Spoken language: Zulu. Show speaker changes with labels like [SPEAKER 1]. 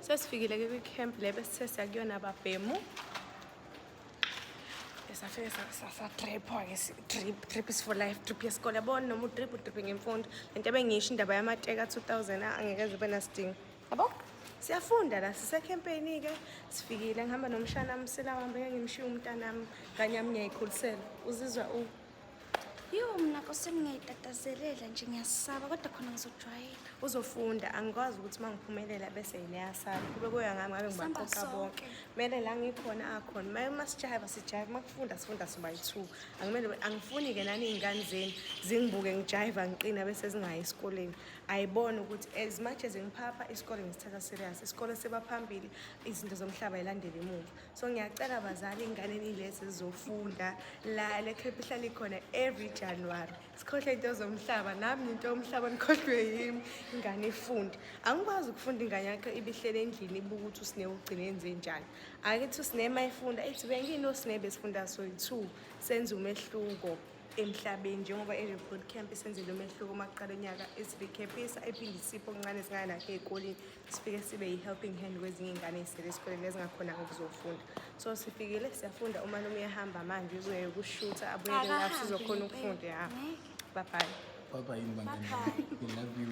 [SPEAKER 1] Sesifikile-ke kwi-camp le besithe siyakuyona babhemu safike sasadripwa-ke drip drip is for life drip yesikole yabona noma udrip udrip ngemfundo le nto ebengiyisho indaba yamateka 2000 ah, angeke ze ube nasidingo yabo siyafunda la sisekhempeyini-ke sifikile ngihamba nomshana msila wambe ngengimshiye umntanami kanye yami ngiyayikhulisela uzizwa u
[SPEAKER 2] Yho mna kose ngingayitatazelela nje ngiyasaba kodwa khona ngizojwayela. Uzofunda
[SPEAKER 1] angikwazi ukuthi uma ngiphumelela bese yini eyasala. Kube kuya ngami ngabe Sihamba ngibaqoqa sonke. bonke. Kumele la ngikhona akhona. Uma uma sijaheva sijaheva uma kufunda sifunda soba yi-two. Angimele angifuni-ke nani iy'ngane zenu zingibuke ngijaheva ngiqina bese zingayi esikoleni. Ayibone ukuthi as much as ngiphapha isikole ngisithatha serious. Isikole siba phambili izinto zomhlaba yilandele emuva. so ngiyacela bazali ingane nilezi zizofunda la le camp ihlala ikhona every january sikhohle into zomhlaba nami nginto yomhlaba nikhohlwe yimi ingane ifunde angikwazi ukufunda ingane yakho ibihlele endlini ibuka ukuthi usine ugcine enze njani akithi usine uma ifunda ithi bengiyini osine besifunda so two senza umehluko emhlabeni njengoba i-report camp isenzele umehluko uma kuqala unyaka isirecaphisa ephinde isipho okuncane singayelakhe ey'koleni sifike sibe yi-helping hand kwezinye iy'ngane ey'sele esikoleni ezingakhonanga ukuzofunda so sifikile siyafunda uma noma uyahamba manje uzoye ukushutha abuyele lapho sizokhona ukufunda ya
[SPEAKER 3] babhale
[SPEAKER 1] Baba
[SPEAKER 3] yini
[SPEAKER 1] bangane bami. We love
[SPEAKER 3] you.